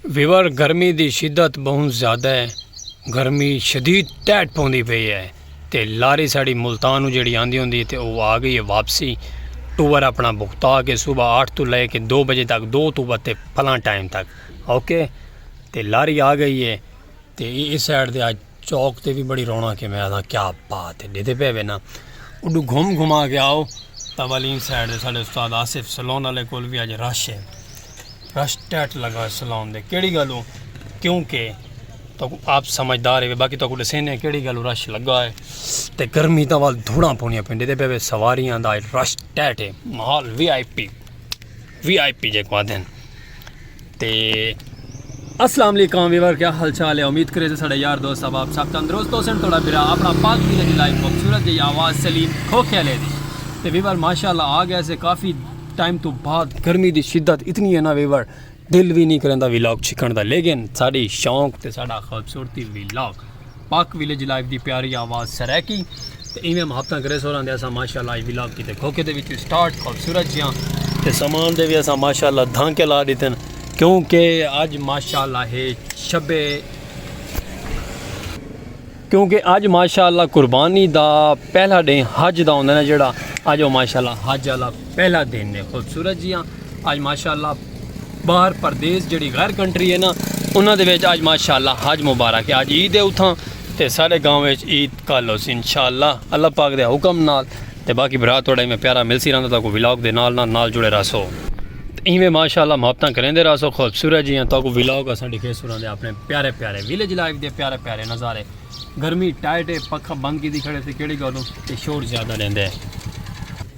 Viewer گرمی دی شدت بہوں زیادہ ہے گرمی شدید ٹیٹ پوندی پئی ہے تے لاری ساڑی ملتان جیڑی آندی ہوندی تے او آ گئی ہے واپسی ٹور اپنا بکتا کے صبح آٹھ تو لے کے دو بجے تک دو تو بتے پھلاں ٹائم تک اوکے تے لاری آ گئی ہے تے اس سائڈ دے آج چوک تے وی بڑی رونق ہے میں آکھاں کیا بات ہے ڈیدھے پے وینا اڈو گھوم گھما کے آؤ تاولین سائڈ دے ساڈے استاد آصف سلون والے کول وی اج رش ہے رش ٹیٹ لگا سلون دے کیڑی گالو کیونکہ تو آپ سمجھدار ہے باقی تو کو دسینے کیڑی گالو رش لگا ہے تے گرمی دا وال دھوڑا پونیا پنڈے دے پے سواریاں دا رش ٹیٹ ہے مال V I P V I P جیکو آدھے ہیں تے السلام علیکم ویور کیا حال چال ہے امید کرے تھے ساڑھے یار دوست صاحب آپ سب تندرست ہو سن تھوڑا برا اپنا پاک بھی لگی لائف خوبصورت جی آواز سلیم کھوکھے لے دی تے ویور ماشاءاللہ آ گیا سے کافی ٹائم تو بعد گرمی دی شدت اتنی ہے نا ویور دل بھی نہیں کرندا ویلاگ چھکن دا لیکن ساڑھی شوق تے ساڑھا خوبصورتی ویلاگ پاک ویلیج لائیو دی پیاری آواز سرائیکی تے ایویں محبتاں کرے سوراں دے اساں ماشاءاللہ ای ولاگ کیتے کھوکے دے وچ سٹارٹ خوبصورت جیاں تے سامان دے وی اساں ماشاءاللہ دھانکے لا ڈیتن کیونکہ اج ماشاءاللہ ہے شب کیونکہ اج ماشاءاللہ قربانی دا پہلا ڈے حج دا ہوندا نا جڑا اج او ماشاءاللہ حج والا پہلا دن نے خوبصورت جی ہاں آج ماشاءاللہ باہر پردیس جڑی غیر کنٹری ہے نا انہاں دے ویچ آج ماشاءاللہ حج مبارک ہے آج عید ہے اتھاں تے سارے گاؤں ویچ عید کال ہو سی انشاءاللہ اللہ پاک دے حکم نال تے باقی برا توڑا ہی میں پیارا مل سی رہندا تھا کو ویلاگ دے نال نال نال جڑے راسو ہی میں ماشاءاللہ محبتاں کریں دے راسو خوبصورت جی ہاں تاکو ویلاگ اساں ڈکھے سوران دے اپنے پیارے پیارے ویلیج لائف دے پیارے پیارے نظارے گرمی ٹائٹ ہے پکھا بند کی دی کھڑے تھے کیڑی گالوں تے شور زیادہ لیندے ہیں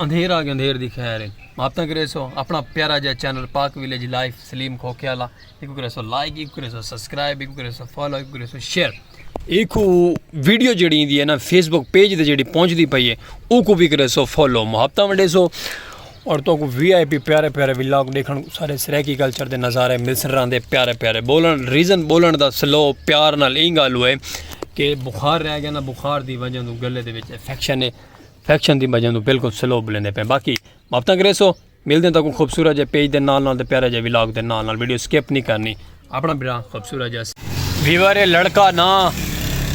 اندھیر آگے اندھیر دی خیر ہے ماپتاں کرے سو اپنا پیارا جا چینل پاک ویلیج لائف سلیم کھوکھے والا ایکو کرے سو لائک ایکو کرے سو سبسکرائب ایکو کرے سو فالو ایکو کرے سو شیئر ایکو ویڈیو جڑی دی ہے نا فیس بک پیج دے جڑی پہنچ دی پئی ہے او کو بھی کرے سو فالو محبتہ ونڈے سو اور تو کو وی آئی پی پیارے پیارے ویلاگ دیکھن سارے سریکی کلچر دے نظارے ملسن رہن دے پیارے پیارے بولن ریزن بولن دا سلو پیار نال اینگا لوئے کہ بخار رہ گیا نا بخار دی وجہ دوں گلے دے وچ افیکشن ہے فیکشن دی بجہ توں بالکل سلو بلیندے پئے باقی ماپتاں کریسو ملدے تاں کو خوبصورت جے پیج دے نال نال تے پیارا جے ولاگ دے نال نال ویڈیو سکپ نہیں کرنی اپنا بھرا خوبصورت جے ویور اے لڑکا نا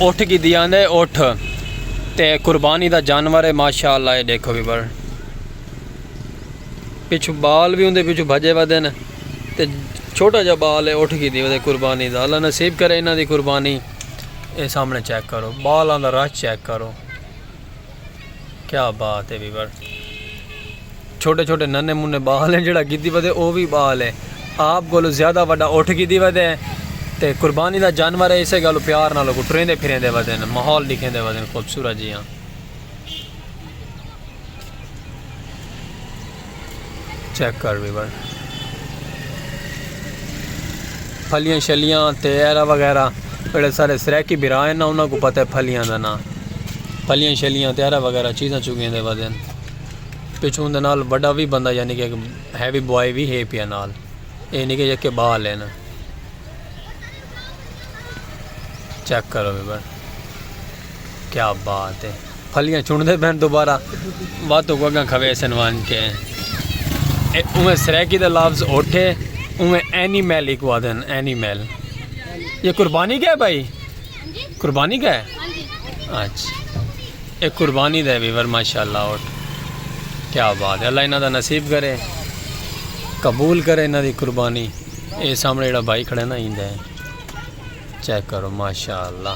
اٹھ کی دی آندے اٹھ تے قربانی دا جانور اے ماشاءاللہ اے دیکھو ویور پچھو بال بھی ہوندے پچھو بھجے ودے نے تے چھوٹا جا بال اے اٹھ کی دی ودے قربانی دا اللہ نصیب کرے انہاں دی قربانی اے سامنے چیک کرو بالاں دا رش چیک کرو کیا بات ہے ویور چھوٹے چھوٹے ننے منے بال ہیں جڑا گیتی ودے او بھی بال ہے آپ کو زیادہ وڈا اٹھ گیتی ودے ہیں تے قربانی دا جانور ہے اسے گالو پیار نہ لوگو ٹرین دے پھرین دے ودے ہیں محول لکھیں دے ودے ہیں خوبصورت جی ہاں چیک کر بھی بن پھلیاں شلیاں تے ایرا وغیرہ بڑے سارے سریکی برا ہیں نا انہوں کو پتہ ہے پھلیاں دا نا پھلیاں شلیاں تے ایرا وغیرہ چیزاں چکیں دے وزن پچھوں دے نال بڑا بھی بندہ یعنی کہ ہیوی بوائی بھی ہے پیا نال اے نہیں کہ یہ کہ بال ہے نا چیک کرو بھی بن کیا بات ہے پھلیاں چنڈے پہن دوبارہ وات کو اگاں کھوے سن وان کے اے اوے سریکی دا لفظ اٹھے اوے اینی میل ایک وادن اینی میل یہ قربانی کا ہے بھائی قربانی کا ہے اچھا اے قربانی دے ویور ماشاءاللہ اٹھ کیا بات ہے اللہ انہاں دا نصیب کرے قبول کرے انہاں دی قربانی اے سامنے جڑا بھائی کھڑے نا ہی دے چیک کرو ماشاءاللہ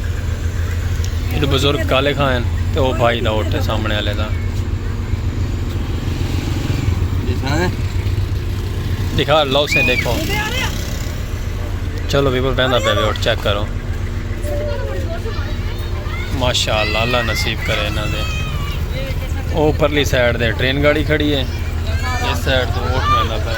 ایڈو بزرگ کالے خان ہیں تے او بھائی دا ہوٹے سامنے آلے دا دکھا لو سے دیکھو چلو بیبر بہندہ پہ بھی ہوٹ چیک کرو ماشاءاللہ اللہ نصیب کرے نا دے او پرلی سائیڈ دے ٹرین گاڑی کھڑی ہے اس سائیڈ تو ہوٹ بہندہ پہ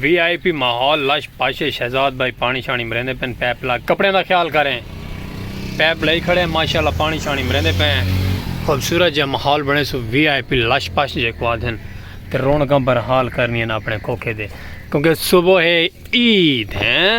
وی آئی پی ماحول لش پش اے شہزاد بھائی پانی شانی مریندے پن پیپ لا کپڑیاں دا خیال کریں پیپ لئی کھڑے ہیں ماشاءاللہ پانی شانی مریندے پے ہیں خوبصورت جے ماحول بنے سو وی آئی پی لش پش جے کو آدھن تے رونقاں برحال کرنی ہیں اپنے کھوکھے دے کیونکہ صبح عید ہیں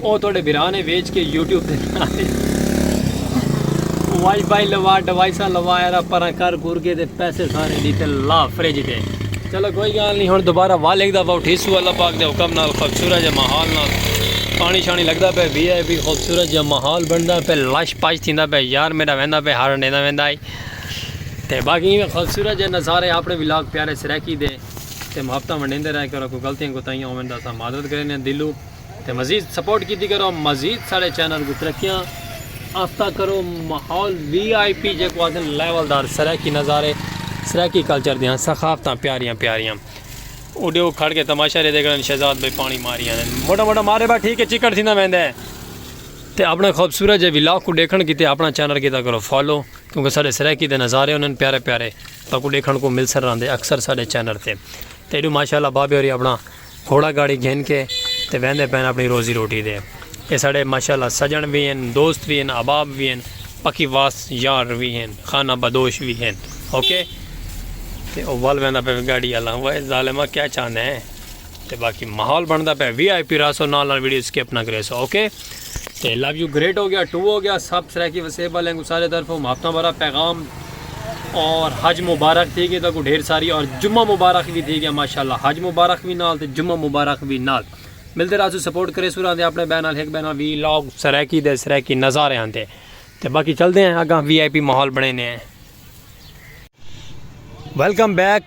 او تہاڈے بھرا نے ویچ کے یوٹیوب دے ناں تے وائی فائی لوا ڈوائساں لوا یارا پراں کر گھر گے تے پیسے سارے دی تے لا فریج دے چلو کوئی گال نہیں ہن دوبارہ وا لکھ دا پاؤ ٹھیسو اللہ پاک دے حکم نال خوبصورت جے ماحول نال پانی شانی لگدا پے وی آئی پی خوبصورت جے ماحول بندا پے لش پاش تھیندا پے یار میرا ویندا پے ہر ڈیندا ویندا ہے تے باقی خوبصورت جے نظارے اپنے ولاگ پیارے سرائکی دے تے محبتاں ونڈیندے رہے کرو کوئی غلطیاں کوتاہیاں ہوون دا سا معذرت کرے نے دلوں تے مزید سپورٹ کیتی کرو مزید سارے چینل کو ترقیاں آفتہ کرو ماحول وی آئی پی جے کو آدھن لیول دار سرائیکی نظارے سرائیکی کلچر دیاں سخافتاں پیاریاں پیاریاں اڈے وہ کھڑ کے تماشا رہے دیکھن شہزاد بھائی پانی ماری آنے موٹا موٹا مارے بھا ٹھیک ہے چکڑ تھی نہ میں دے تے اپنے خوبصورت جے ویلاک کو دیکھن کیتے اپنا چینل کیتا کرو فالو کیونکہ سارے سرائیکی دے نظارے انہیں پیارے پیارے تاکو دیکھن کو مل سر رہن دے اکثر سارے چینل تے تے ایڈو ماشاءاللہ بابے ہوری اپنا گھوڑا گاڑی گھن کے تے ویندے پین اپنی روزی روٹی دے اے ساڑے ماشاءاللہ سجن وی ہن دوست وی ہن احباب وی ہن پکی واس یار وی ہن خانہ بدوش وی ہن اوکے تے او ول ویندا پے گاڑی اللہ وے ظالما کیا چاہندے ہیں تے باقی ماحول بندا پے وی آئی پی راسو نال نال ویڈیو سکپ نہ کریسو اوکے تے لو یو گریٹ ہو گیا ٹو ہو گیا سب سرائیکی وسیب والے کو سارے طرف ہم ہفتہ بھرا پیغام اور حج مبارک تھی گئے تو کو ڈھیر ساری اور جمعہ مبارک بھی تھی گیا ماشاءاللہ حج مبارک بھی نال تے جمعہ مبارک بھی نال ملتے رہا سو سپورٹ کرے سو رہا دے اپنے بہن نال ایک بہن نال وی لاگ سرائیکی دے سرائیکی نظارے آندے تے باقی چل دے ہیں اگاں وی آئی پی ماحول بنے نے ہیں ویلکم بیک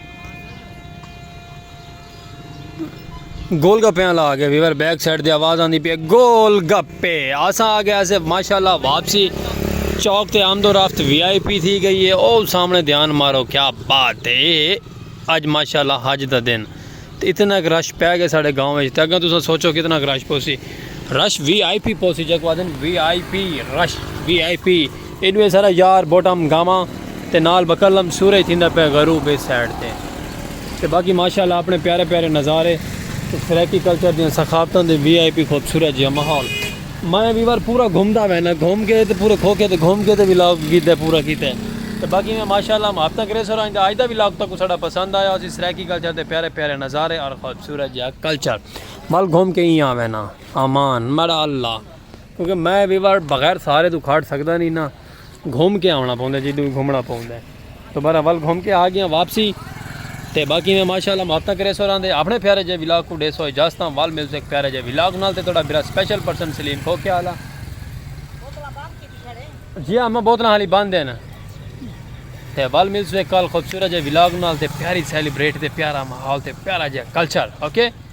گول گپے والا آ گیا ویور بیک سائڈ دی آواز آندی پی گول گپے آسا آ گیا سے ماشاءاللہ واپسی چوک تے آمد و رفت وی آئی پی تھی گئی ہے او سامنے دھیان مارو کیا بات ہے اج ماشاءاللہ حج دا دن تے اتنا ک رش پے گئے ساڈے گاؤں وچ تے اگاں تساں سوچو کتنا ک رش پوسی رش وی آئی پی پوسی جیکو آدن V I P rush V I P ایڈوے سارا یار بوٹم گاواں تے نال بکلم سورج تھیندا پے غروب اس سائیڈ تے تے باقی ماشاءاللہ اپنے پیارے پیارے نظارے تے سرائیکی کلچر دی ثقافتاں دے وی آئی پی خوبصورت جیہا ماحول میں وی وار پورا گھومدا وینا گھوم کے تے پورے کھوکھے تے گھوم کے تے وی لاگ کیتے پورا کیتے تے باقی میں ماشاءاللہ ہم ہفتہ گریس اور آئندہ آج دا وی لاگ تکوں ساڈا پسند آیا ہوسی سرائیکی کلچر دے پیارے پیارے نظارے اور خوبصورت جیا کلچر ول گھوم کے ایاں وینا امان ماڑا اللہ کیونکہ میں وی وار بغیر سارے تو کھاٹ سکدا نی نا۔ گھوم کے آونا پوندا ہے جیدوں گھومنا پوندا ہے تو بہر حال گھوم کے آ گیا واپسی تے باقی میں ماشاءاللہ محبتاں کرے سو راندے اپنے پیارے جے ولاگ کو ڈے سو اجازتاں وال ملتے ایک پیارے جے ولاگ نال تے تھوڑا برا سپیشل پرسن سلیم کو کیا حالا جی ہاں میں بوتلاں حالی باندھ دینا تے وال ملتے ایک کال خوبصورت جے ولاگ نال تے پیاری سیلیبریٹ تے پیارا ماحول تے پیارا جے کلچر اوکے okay?